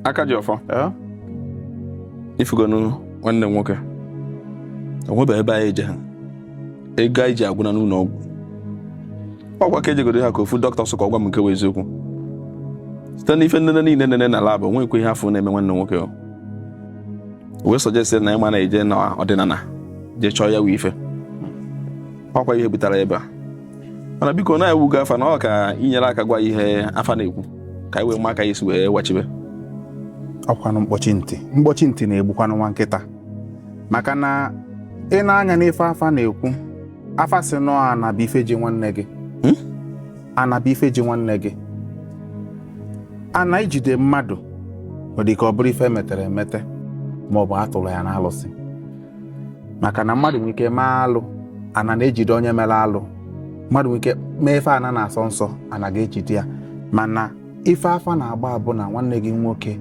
aka ji ọfọ ifugonu nwanne m nwoke onwebe ebe anyị eje ha ego anyị ji agwụna n'ụlọ ọgwụ ọkwa ka ejegoro ha ka ofu dọkịta sị ka ọ gwa m nke bụ eziokwu site na ife nlele niile e nene na lab o nweghịkwa ihe a fụ na-eme nwanne nwoke o wee suggest na ịma na-eje na ọdịnala jee chọọ ya wụ ife ọkwa ihe butere ebe a mana biko na ewu gị afa na ọ ka i nyere aka gwa ihe afa na-ekwu ka anyị wee ma aka a ya-esi wee wachibe ọkwanụ mkpọchi ntị mkpọchi ntị na-egbukwanụ nwa nkịta maka na ị nee anya n'ife afa na-ekwu afa sị na ọ ana bụ ife ji nwanne gị hmm? ana bụ ife ji nwanne gị ana ijide mmadụ ọ dị ka ọ bụrụ ife metere emete ma ọ bụ a tụrụ ya n'alụsị maka na mmadụ nwere ike mee alụ ana na-ejide onye mere alụ mmadụ nwere ike mee ife ana na-asọ nsọ ana ga-ejide ya mana ife afa na-agba bụ na nwanne gị nwoke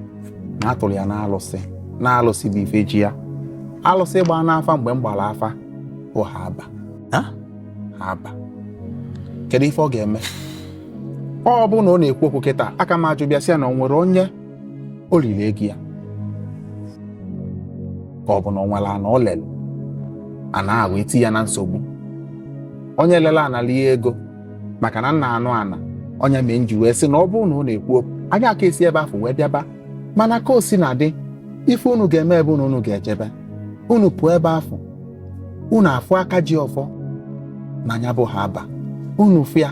na a tụrụ ya n'alụsị na alụsị bụ ife ji ya alụsị gba n'afa mgbe m gbara afa bụ Haba Haba kedu ife ọ ga-eme ọ bụ na ọ na-ekwu okwu kịta aka m ajụba ya sị ya na o nwere onye o riri ego ya ka ọ bụ na o nwere ana o lere ana ahụ eti ya na nsogbu onye lere ana lie ego maka na m na-anụ ana ọ nya mee m ji wee sị na ọ bụrụ na ọ na-ekwu okwu anyị aka esi ebe afụ wee bịaba mana ka o sina dị ife unu ga-eme ebe unu unu ga-ejebe unu pụọ ebe afụ unu afụ aka ji ọfọ na nya bụ Haba unu fụ ya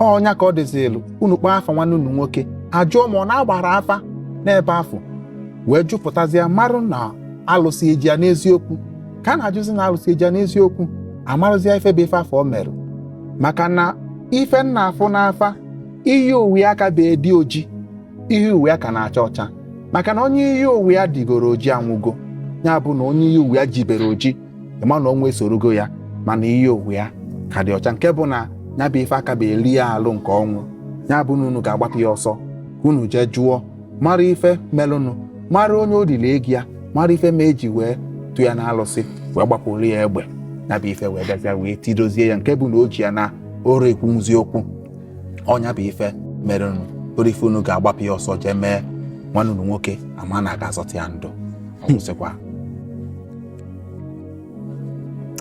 ọ nya ka ọ dịzịlụ unu kpọọ afa nwanne unu nwoke ajụọ mmụọ na-agbara afa n'ebe afụ wee jụpụtazie marụ na alụsị eji ya n'eziokwu ka a na-ajụzi na alụsị eji ya n'eziokwu amarụzie ife bụ ife afụ o merụ maka na ife m na-afụ n'afa iyi ụwa ya akabe edi oji iyi ụwa ya ka na-acha ọcha maka na onye iyi ụwa ya digoro oji anwụgo ya bụ na onye iyi ụwa ya jibere oji ị ma na ọnwụ esorogo ya mana iyi ụwa ya ka dị ọcha nke bụ na ya bụ ife akabe eri ya alụ nke ọnwụ ya bụ na unu ga-agbapụ ya ọsọ ka unu jee jụọ mara ife melụnụ mara onye o liri ego ya mara ife mee e ji wee tụ ya na alụsị wee gbapụrụ ya egbe ya bụ ife wee bịazịa wee tidozie ya nke bụ na o ji ya anarọ ekwuzi okwu ọ nya bụ ife merụnụ bụrụ ife unu ga-agbapụ ya ọsọ jee mee nwanne unu nwoke a ma na a ga-azọta ya ndụ ọ kwụsịkwa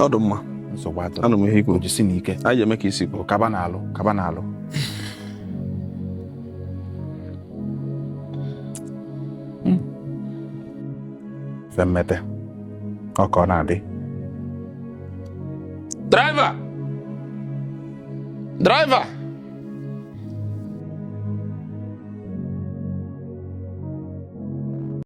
ọ dị mma nsogbu adịrọ anụ m ihe i kwu jisinụ ike anyị eme ka i si kwuo ka ba na-alụ ka ba na-alụ hmm. femmete ọ ka ọ na-adị driver driver